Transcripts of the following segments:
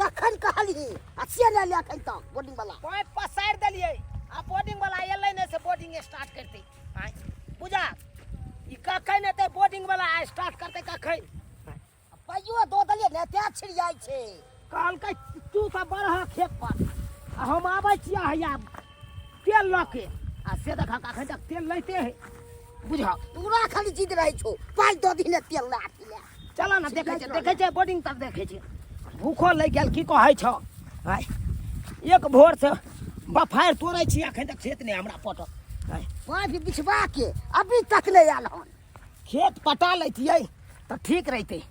कखन कहली आ से ले ले अखन तक बोर्डिंग वाला पाइप पसारि देलियै आ बोर्डिंग वाला एलै नहि से बोर्डिंग स्टार्ट करतै आँय बुझा ई कखन एतै बोर्डिंग वाला आ स्टार्ट करतै कखन आ पाइयो दो देलियै ने तें छिड़ियाइ छै कहलकै तू तऽ बड़ह खेत पर आ हम आबै छियै हैया तेल लऽ के आ से देखा कखन तक तेल लैते है बुझा तोरा खाली जिद रहै छौ पाइ दो दिन तेल लाठी ले चलो ना देखे छे देखे छे बोर्डिंग तक देखे छे भूखो लग गेल की कहै छ हाय एक भोर से बफायर तोड़ै छी अखन तक खेत ने हमरा पटक हाय पाँच बिछवा के अभी तक नहीं आल हन खेत पटा लैतियै तऽ ठीक रहितै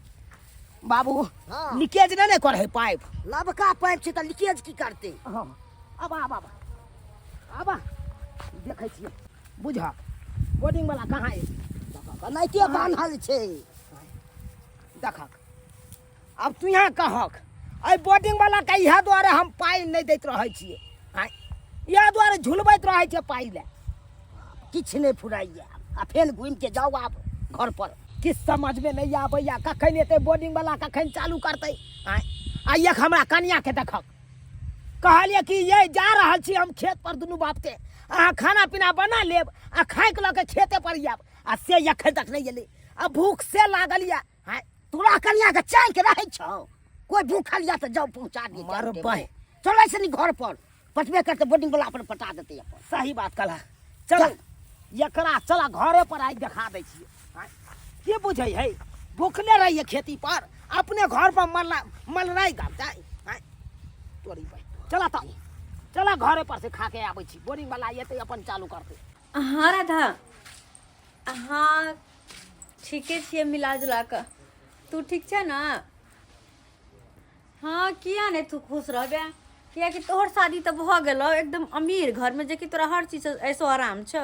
बाबू हाँ। लीकेज नहि ने करै पाइप नबका पाइप छै तऽ लीकेज की करते हाँ, अब आब आब आबा देखै छियै बुझह बोर्डिंग वाला कहाँ अछि देखक एनाहिते बान्हल छै देखक आब तू यहाँ कहक एहि बोर्डिंग वाला के इएह दुआरे हम पाइ नहि दैत रहै छियै आँय, इएह दुआरे झुलबैत रहै छियै पाइ लए किछु नहि फुराइए आ फेर घुमिके जाउ आब घर पर किछु समझमे नहि आबैए कखन एतै बोर्डिंग वाला कखन चालू करतै आँय, आ एक हमरा कनियाके देखक कहलिए कि ये जा रहल छी हम खेत पर दुनू बाप के अहाँ खाना पीना बना लेब आ खाइक लऽ के खेते पर आयब आ से एखन तक नहि एलै आ भूख से लागल यऽ हाय तोरा कनिया के चाय के रहै छौ कोई भूखल यऽ तऽ जाउ पहुँचा दिए मर बह चलै छै नि घर पर पटबे करतै बोर्डिंग वाला अपन पटा देतै अपन सही बात कहला चल एकरा चला घरे पर आइ देखा दै छियै आँय, की बुझै है भूखले रहिए खेती पर अपने घर पर मल्ला मलराइ गाम जाय आँय, तोरी भाय चला तऽ चला घरे पर से खा के आबै छी बोरिंग वाला एतै अपन चालू करतै अहाँ राधा अहाँ ठीके छियै मिला जुला कऽ तू ठीक छै ने हँ किया नहि तू खुश रहबे कियाकि तोहर शादी तऽ भऽ गेलौ एकदम अमीर घरमे जेकि तोरा हर चीज ऐसो आराम छौ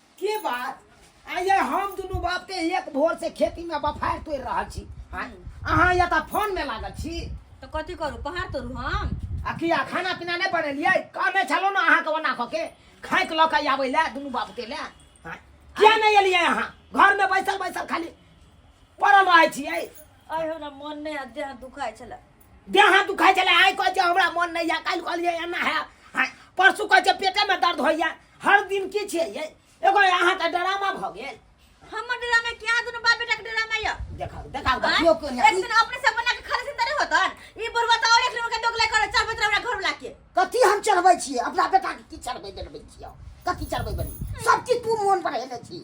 की बात आइए हम दुनू बाप के एक भोर से खेती में बफार तोड़ रहल छी आय, अहाँ या तऽ फोन में लागल छी तो कथी करू पहाड़ तोड़ू हम आ किया खाना पीना नहीं बनेलिए कहने छलो ना अहाँ के ओना कऽ के खाए के लऽ के आबै ले दुनू बाप के ले आय, किया नहीं एलिए अहाँ घर में बैसल बैसल खाली पड़ल रहै छियै आइ हमरा मन नहि आ देह दुखाइ छलै देह दुखाइ छलै आइ कहै छै हमरा मन नहि यऽ काल्हि कहलियै एना है आय, परसू कहै छै पेटे में दर्द होइए हर दिन की छै ये एगो अहाँ का ड्रामा भ गेल हमर डेरा में क्या दुनु बाप बेटा के डेरा में या देखाओ देखाओ आँय? देखियो के एक दिन अपने से बना के खाली सिंदरे होतन ई बुढ़वा त और एक दिन के दोगला करे चार बजे हमरा घर बुला के कथी हम चढ़बै छियै अपना बेटा के की चढ़बै देलबै छियै कथी चढ़बै बनी सब चीज तू मोन पर हेले छी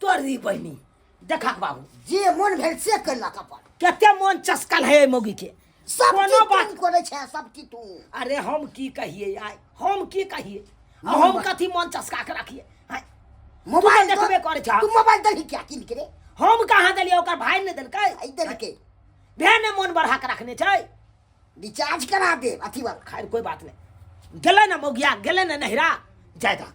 तोड़ दी बहिनी देखा के बाबू जे मोन भेल से कैलक अपन कते मोन चस्कल है मौगी के सब कोनो बात बात करे छै सब की तू अरे हम की कहिए आय हम की कहिए आ हम मोबाइल- कथी मोन चस्का के रखिए आय, मोबाइल तू देखबे करे छा। तू मोबाइल दही क्या किन के रे हम कहाँ देलिए ओकर भाई ने देलकै आई दही के भेने मोन बढ़ा के रखने छै रिचार्ज करा दे अथी वाला खैर कोई बात नहीं गेलै ने मौगिया गेलै ने नहिरा जाय दहक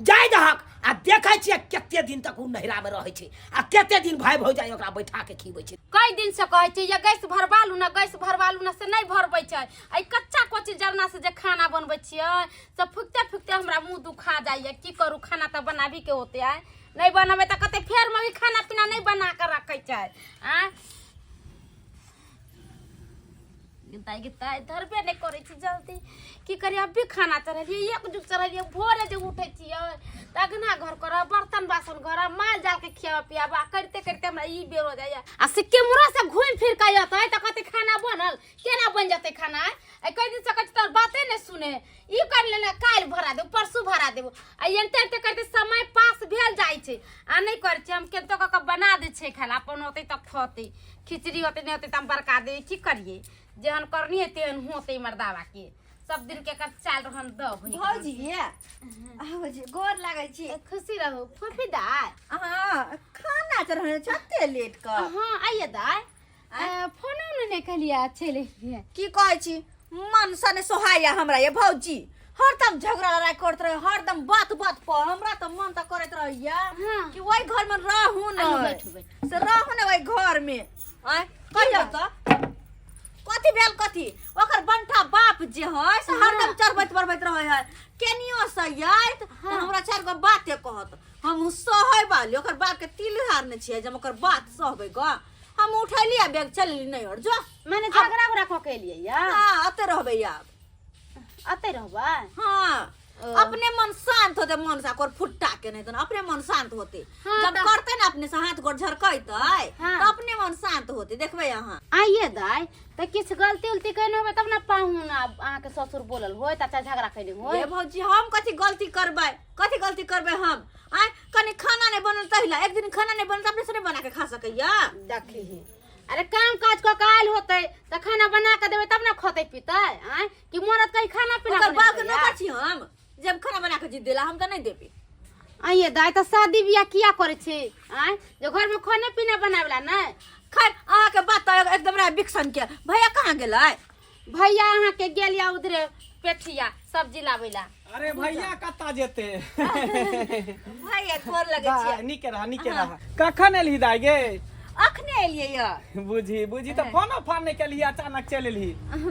जाय दहक आ देखै छियै कते दिन तक ओ नहिरामे रहै छै आ कते दिन भाय भौजाइ ओकरा बैठा के खीबै छै कई दिन से कहै छै ये गैस भरवा लू ना गैस भरवा लू ना से नहीं भरबै छै आई कच्चा कोची जरना से जे खाना बनबै छियै से फुकते फुकते हमरा मुंह दुखा जाइए की करू खाना तऽ बनाबी के होते आय नहीं बनबै तऽ कते फेर मम्मी खाना पीना नहीं बना के रखै छै आ गिनताई गिनताई धरबे नहि करै छी जल्दी की करी अभी खाना चढ़लियै एक जुग चढ़लियै भोरे जे उठै छियै तऽ अगना घर करऽ बर्तन बासन करऽ माल जालके खियाबऽ पियाबऽ करिते करिते हमरा ई बेर हो जाइए आ से केमरा से घुमि फिर कऽ अयतै तऽ कहतै खाना बनल केना बनि जेतै खाना आइ कहि दिन से कहै छै तोहर बाते नहि सुने ई कर लेना काल्हि भरा देबो परसू भरा देबो आ एनते एनते करते समय पास भेल जाइ छै आ नहि करै छै हम केतो कऽ कऽ बना दै छै खाना अपन होतै तऽ खतै खिचड़ी होतै नहि होतै तऽ हम बड़का दे की करियै जेहन करनी है तेहन होतै मर्दावा के सब दिन के कर चाल रहन दब है। भौजी ये भौजी गोर लागै छी ए, खुशी रहू फूफी दाय अहाँ खाना चढ़ाने छते लेट कऽ हाँ आइए दाय फोनो ने कहलियै चलि एलियै की कहै छी मन सा ने सोहाइया हमरा ये भौजी हरदम झगड़ा लड़ाई करत रहे हरदम बात बात पर हमरा तो मन तो करत रहैया हाँ। कि वही घर में रहू न आइयो, बैठू, बैठू। से रहू न वही घर में आय कहियो तो कथी भेल कथी ओकर बंठा बाप जे है से हरदम चरबैत बरबैत रहे है केनियो से आइत तो हाँ। हमरा चार गो बाते कहत हम सहै वाली ओकर बाप के तिल हारने छियै जे हम ओकर बात सहबै ग हम उठैली आ बैग चलली नहीं और जो मैंने झगड़ा उगड़ा कऽ के लिए या हाँ अते रहबे आब अते रहबा हाँ अपने मन शांत होते मन से ओकर फुट्टा के नहीं तो अपने मन शांत होते हाँ, जब तो- करते ना अपने से हाथ गोड़ झरकैते हाँ। तो अपने मन शांत होते देखबे अहाँ आइए दाय तऽ किछु गलती उलती कयने होबै तब ने पाहुन आब अहाँके ससुर बोलल होय तऽ अच्छा झगड़ा कयने होय ये भौजी हम कथी गलती करबै कथी गलती करबै हम आय कने खाना नहीं बनल तहिला एक दिन खाना नहीं बनल त अपने से नहीं बना के खा सकैया देखी ही अरे काम काज क के आयल होते त खाना बना के देबे तब ना खते पीते आय कि मरद कहीं खाना पीना ओकर बाप के बनेतै, नौकर छी हम जब खाना बना के जी देला हम त नहीं देबे आइए दाय त शादी बियाह किया करे छी आय जे घर में खाने पीना बनावेला ना खैर अहाँ के बात त एकदम रहा बिक्सन के भैया कहाँ गेलै भैया अहाँ के गेल या उधरे पेठिया सब्जी लाबै ला अरे भैया कत्ता जेते भैया गोर लगै बा, छियै नीके रहा नीके रहा कखन एलही दाई गे अखने एलियै या बुझी बुझी तऽ फोनो फान नहि केलही अचानक चलि एलही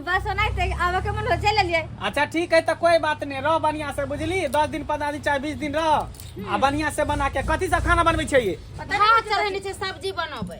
बस ओनाहिते आबऽ के मन हो चलि एलियै अच्छा ठीक है तऽ कोई बात नहीं रह बढ़िया से बुझली दस दिन पंद्रह दिन चाहे बीस दिन रह आ बढ़िया से बना के कथी सब खाना बनबै छै ये भात चढ़ेने छै सब्जी बनबै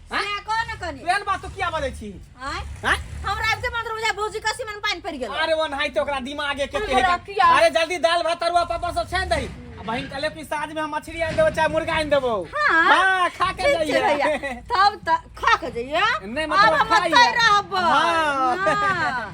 आय को न कनी एहन बात तो किया बजै छी आय हैं? हम रात से मंत्र बुझा भौजी का सीमन पानी पड़ गेल अरे वो नहीं तो ओकरा दिमागे के अरे बड़ा किया। अरे जल्दी दाल भात तरुआ पापड़ सब छान दही आ बहिन कहले कि साँझ में हम मछली आन देबो चाहे मुर्गा आन देबो हाँ। हाँ, खा के ठीक छै भैया जाइए तब त खा के जइया नहीं, मतलब अब हम खाइए। मत रहब हाँ। हाँ।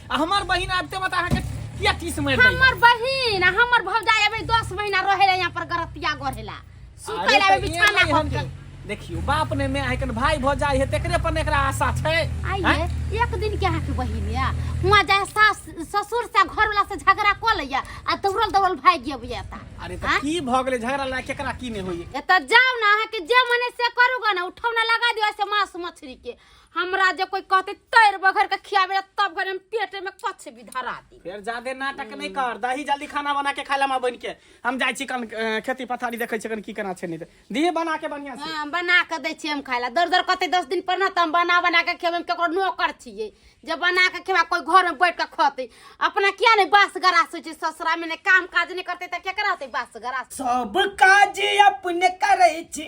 आ हमार बहिन आबते बता अहाँ के किया टीस मार दे हमर बहिन आ हमर भौजाई अबे 10 महीना रहेला यहाँ पर गरतिया गढ़ेला सुतै ला बिछाना पर के। देखियो बाप ने मैं आइकन भाई भऽ जाय है तेकरे पर एकरा आशा छै आइए हैं? एक दिन के अहाँके बहिन या हुआँ जाए सास ससुर से घरवाला से झगड़ा कऽ लैया आ दौड़ल दौड़ल भागि गेब एता अरे त की भऽ गेलै झगड़ा लए केकरा की ने होइए एतऽ जाउ ने अहाँके जे मने से करू ग ने उठौना लगा दियौ ऐसे मांस मछली के हमरा जे कोई कहते तैर बघर के खियावे ला तब घर हम पेटे में कछ भी धरा दी फिर ज्यादा नाटक नहीं कर दही जल्दी खाना बना के खा लेमा बन के हम जाय छी कन अ, खेती पथारी देखे छी कन की केना छै नहीं ते दिहे बना के बढ़िया से हाँ, बना के दै छियै हम खाय ला दर दर कहते दस दिन पर ना तऽ हम बना बना के खेबै हम केकरो नौकर छियै जे बना के खेबा कोई घर में बैठ के खतै अपना किया नहीं बास गरास होइ छै ससुरा में ने काम काज नहीं करते तऽ केकरा होतै बास गरास सब काज अपने करै छी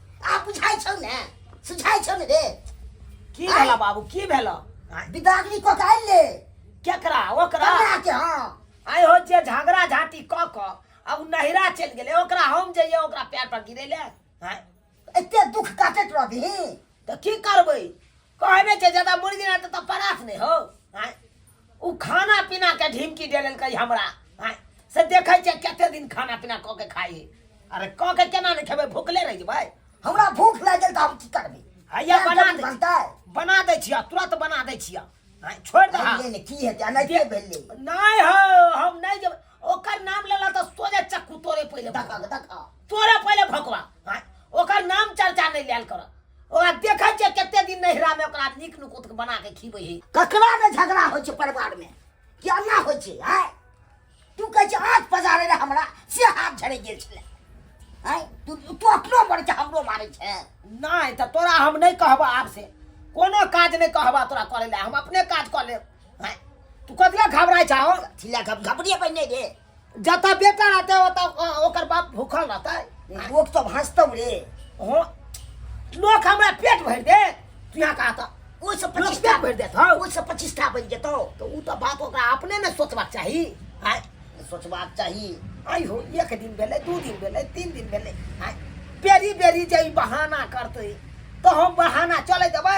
आ बुझाइ छौ ने सुझाइ छौ ने रे की आय। भेला बाबू की भेला बिदागनी को काल ले केकरा ओकरा कन्या के हां आइ हो जे झगड़ा झाटी क क आ उ नहिरा चलि गेलै ओकरा हम जइए ओकरा पैर पर गिरे ले आँय, एते दुख काटत रहबी त की करबै कहे नहीं छे ज्यादा मुर्गी रहते तो परास नहीं हो आय उ खाना पीना के ढिमकी दे लेलकै हमरा आय से देखे छे कते दिन खाना पीना क के खाई अरे क के केना नहीं खेबै भूखले रह जेबै हमरा भूख लाग गेल त हम की करबे हैया केना बना जल्दी दे बनतै बना दै छिया तुरंत बना दै छिया आय छोड़ दे अरे ले ले की हेतै आ नहीं के भेलै नहीं हो हम नहीं जेबै ओकर नाम लेला तऽ सोझे चक्कू तोरे पहिले धकक धक तोरे पहिले भकवा आँय, ओकर नाम चर्चा नहि लेल कर ओकरा देखै छियै कते दिन नैहरामे ओकरा नीक नुकुत बना कऽ खिबै हे ककरा ने झगड़ा होइ छै परिवारमे कि अन्ना होइ छै आँय तू कहै छै आँख पजारे रहे हमरा से हाथ झड़ि गेल छलै आँय तू तू अपनो मरै छै हमरो मारै छै नहि तऽ तोरा हम नहि कहबह आब से कोनो काज नहि कहबह तोरा करै लए हम अपने काज कऽ लेब हैं? तू कथी लए घबराय छा हो छिला घप घपड़िए पहिने रे जतऽ बेटा रहतै ओतऽ अ- ओकर बाप भूखल रहतै लोक सब हँसतौ रे हो लोक हमरा पेट भरि दे तू यहाँ कहा तऽ ओहिसँ लोक प्रतिष्ठा पेट भरि देत हौ ओहिसँ प्रतिष्ठा बनि जेतौ तऽ ओ तऽ बाप ओकरा अपने ने सोचबाक चाही हैं? सोचबाक चाही आइ हो एक दिन भेलै दू दिन भेलै तीन दिन भेलै हैं? बेरी बेरी जे ई बहाना करतै तऽ हम बहाना चलै देबै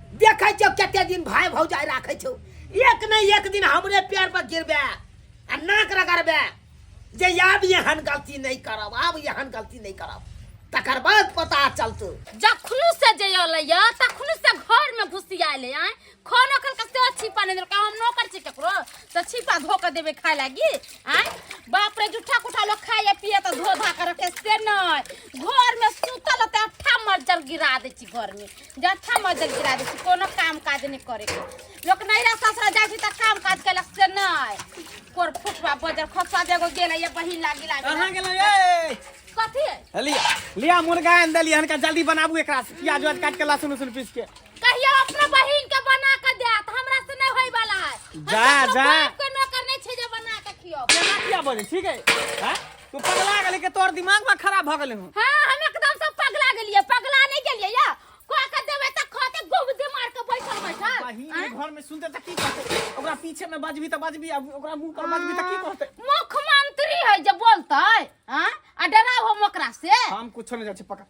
देखै छियौ कते दिन भाय भौजाइ राखै छौ एक नहि एक दिन हमरे पैर पर गिरबे आ नाक रगड़बे जे आब एहन गलती नहि करब आब एहन गलती नहि करब तकर बाद पता चलतौ जखनु से जे अयलैया तखनु से घर में घुसियाल है खाना कल के से छिपा नहीं देलकै हम नौकर छी ककरो तो छिपा धो के देबे खाय लागी आय बाप रे जूठा कुठा लोग खाइए पिए तो धो धा के रखे से नहीं घर में सुतल ते अट्ठा मर्जर गिरा दे छी घर में जत्था मजल गिरा दै छै कोनो काम काज नहि करे के लोक नैरा ससुरा जाइ छै तऽ काम काज केलक से नहि कोर फुटवा बजर खसा देगो गेल ये बहिन लागी लागी कहाँ गेलौ ये कथी है? लिया लिया मुर्गा आनि देलियै हनका जल्दी बनाबू एकरा से। प्याज उज काटि के लहसुन उसुन पीस के कहियो अपना बहिन के बना के दे तऽ हमरा से नहि होय वाला है जा, जा। के नौकर नहि छै जे बना के खियो केना किया बजै ठीक है हैं? तू पगला गेली के तोर दिमाग में खराब भ गेले हूं हां हम एकदम से पगला गेलिए पगला नहीं गेलिए या को के देबे त खाते गोबदे मार के बैठल बैठल बहिन आँय? घर में सुनते त की कहते ओकरा पीछे में बजबी त बजबी अब ओकरा मुंह पर बजबी त की कहते मुख्यमंत्री है जे बोलते हां आ डराव हम ओकरा से हम कुछो नहीं जाय छै पकड़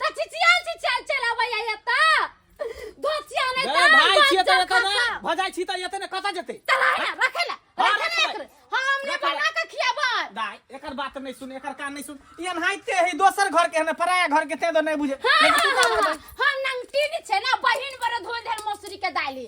त चिचियाल चिचियाल चल अबैया एता दोसिया नै रे भाई छिए त एतऽ ना भजाइ छी त एतऽ ना कतऽ जेतै चला ना रखे ला हाँ, रखे रखे। एकर हम हमने रखे। बना के खियाबै दाई एकर बात नहीं सुन एकर कान नहीं सुन ई अनहाइते है दोसर घर के है पराया घर के ते दो नहीं बुझे हाँ, लेकिन तू हाँ, का हाँ, बोलबे? हाँ, हाँ, नंगटीन छै ना बहिन बड़ धोल धर मसूरी के दाली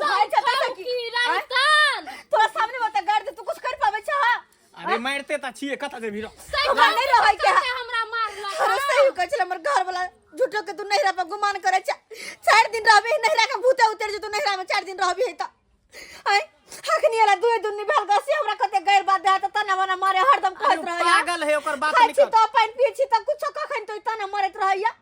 सहाय चलता था कि की राजस्थान तोरा सामने बता गाड़ दे तू कुछ कर पावे छा अरे मारते ता छिए कता जे भीरो सही हमरा बात नहीं है, रहै के। सबके हमरा मारला अरे सही कहै छले हमर घर वाला झूठो के तू नहिरा पर गुमान करे छा चार दिन रहबे नहिरा के भूते उतर जे तू नहिरा में चार दिन रहबे है त आय हकनी वाला दुए दुन्नी भेल गसी हमरा कते गैर बात दे त तना मना मारे हरदम अरे कहत रहै पागल है ओकर बात खाइ छी निकल तो पानि पिए छी त कुछो कखन तो तना मरत रहैया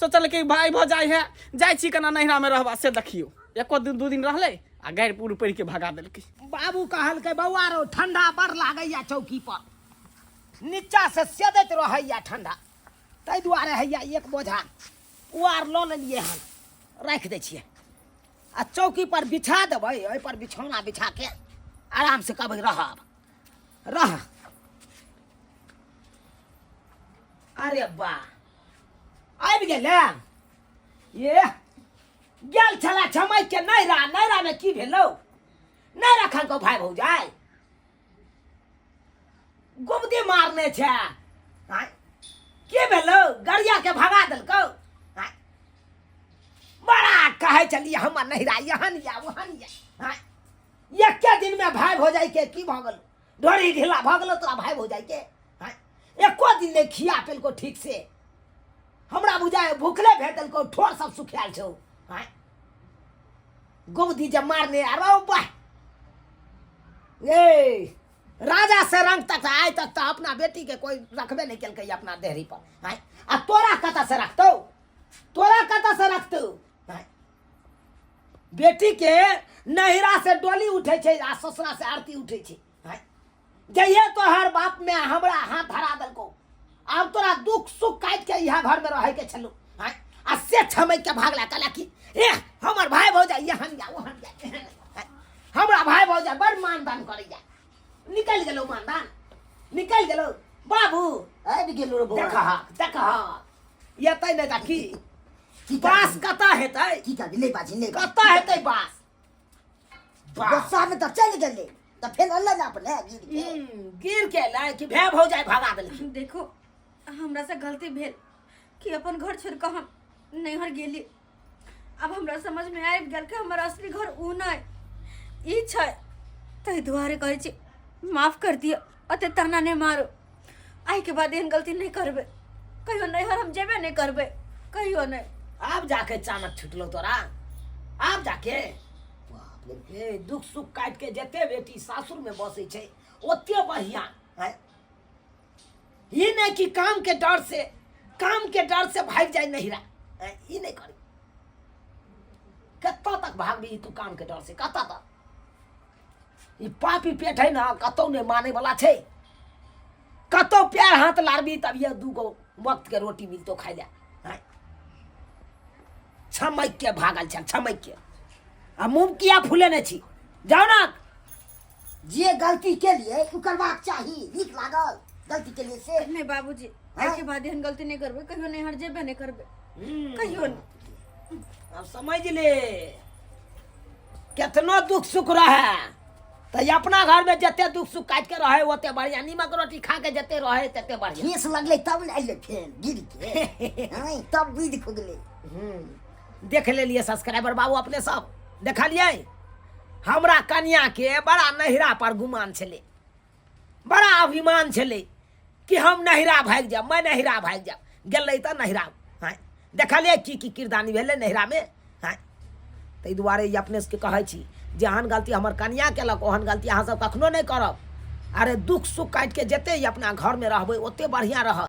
सोचल कि भाय भऽ जाइ है जाइ छी केना नैहरामे रहबा से देखियौ एको दिन दू दिन रहलै आ गाड़ि पूर पड़ि के भगा देलकै बाबू कहलकै बौआ रौ ठंडा बड़ लागैया चौकी पर नीचा से सेदैत रहैया ठंडा ताहि दुआरे हैया एक बोझा उआर लऽ लेलियै हन राखि दै छियै आ चौकी पर बिछा देबै ओहि पर बिछौना बिछा के आराम से कहबै रहब रह अरे बा आबि गेल ये गेल छला छमय के नैरा नैरा में की भेलौ नैरा खान को भाई भौजाय गुबदी मारने छै आँय, की भेलौ गरिया के भगा देलकौ आँय, बड़ा कहै छलियै हमर नैरा यहाँ या वहाँ या आँय, एके दिन में भाई भौजाय के की भऽ गेल डोरी ढीला भऽ गेलो तोरा भाय भौजाई के हैं? एको दिन नहि खिया पेलको ठीक से हमरा बुझाय भूखले भेटलको ठोर सब सुखायल छौ हैं? गोबदी जे मारने अरे वाह ए राजा से रंग तक आय तक तो अपना बेटी के कोई रखबे नहीं केलकै अपना देहरी पर हैं? आ तोरा कतऽ से रखतौ तोरा कतऽ से रखतौ बेटी के नहिरा से डोली उठे छे आ ससुरा से आरती उठे छे हैं? जइए तो हर बाप में हमरा हाथ धरा दलको आब तोरा दुख सुख काट के यहाँ घर में रहे के छलू हैं? आ से छमक के भागला कहला कि ए हमर भाई भौजा यहाँ जा वहाँ जा एहन जा, हैं? हमरा भाई भौजा बड़ मानदान करे जा निकल गेलो मानदान निकल गेलो बाबू आबि गेलू रे बौआ देखा देखा ये तै नहीं देखी बास कतऽ हेतै की करबी नहि बाजी नहि बाजी। कतऽ हेतै बास बास बरसात में तब चल गेले तब फिर अल्लाह ना अपने गिर के हम्म, गिर के लै कि भै भौ जाए भगा देलखिन देखो हमरा से गलती भेल कि अपन घर छोड़ के हम नैहर गेली अब हमरा समझ में आबि गेल कि हमर असली घर ऊ नहि ई छै ताहि दुआरे कहै छी माफ कर दिअ अते ताना नहि मारो आइके बाद एहन गलती नहि करबै कहियो नैहर हम जेबे नहि करबै कहियो नहि आब जाके अचानक छुटलो तोरा आब जाके बाप रे हे दुख सुख काट के जते बेटी सासुर में बसे छै ओते बढ़िया है ये नहीं कि काम के डर से काम के डर से भाग जाए नहीं रहा हैं? ये नहीं करी कत्ता तक भागबी तू काम के डर से कत्ता तक ई पापी पेट है ना कतौ नहीं माने वाला छे कतौ पैर हाथ लारबी तब ये दू गो वक्त के रोटी मिलतो खाई ले हैं? छमक के भागल छे छमक के आ मुंह किया फूले नहीं छी जाओ ना जे गलती के लिए उकरबाक चाही नीक लागल गलती के लिए से नहीं बाबूजी आइ के बाद एहन गलती नहि करबै कहियो नहि हर जेबे नहि करबै हम्म, कहियो नहि अब समझ ले कितना दुख सुख रहे तो ये अपना घर में जते दुख सुख काट के रहे ओते बढ़िया नीमक रोटी खा के जते रहे तते बढ़िया ठेस लगले तब ने अइले फेन गिर के हाँ, तब बुद्धि खुगले हम्म, देख ले लिए सब्सक्राइबर बाबू अपने सब देखलिए हमरा कन्या के बड़ा नहिरा पर गुमान छले बड़ा अभिमान छलै कि हम नहिरा भागि जायब मैं नहिरा भागि जायब गेलै तऽ नहिरा हँ देखलियै की की किरदानी भेलै नहिरामे हँ ताहि दुआरे ई अपने सबके कहै छी जेहन गलती हमर कनिया केलक ओहन गलती अहाँ सब कखनो नहि करब अरे दुख सुख काटि के जते ई अपना घरमे रहबै ओते बढ़िआँ रहत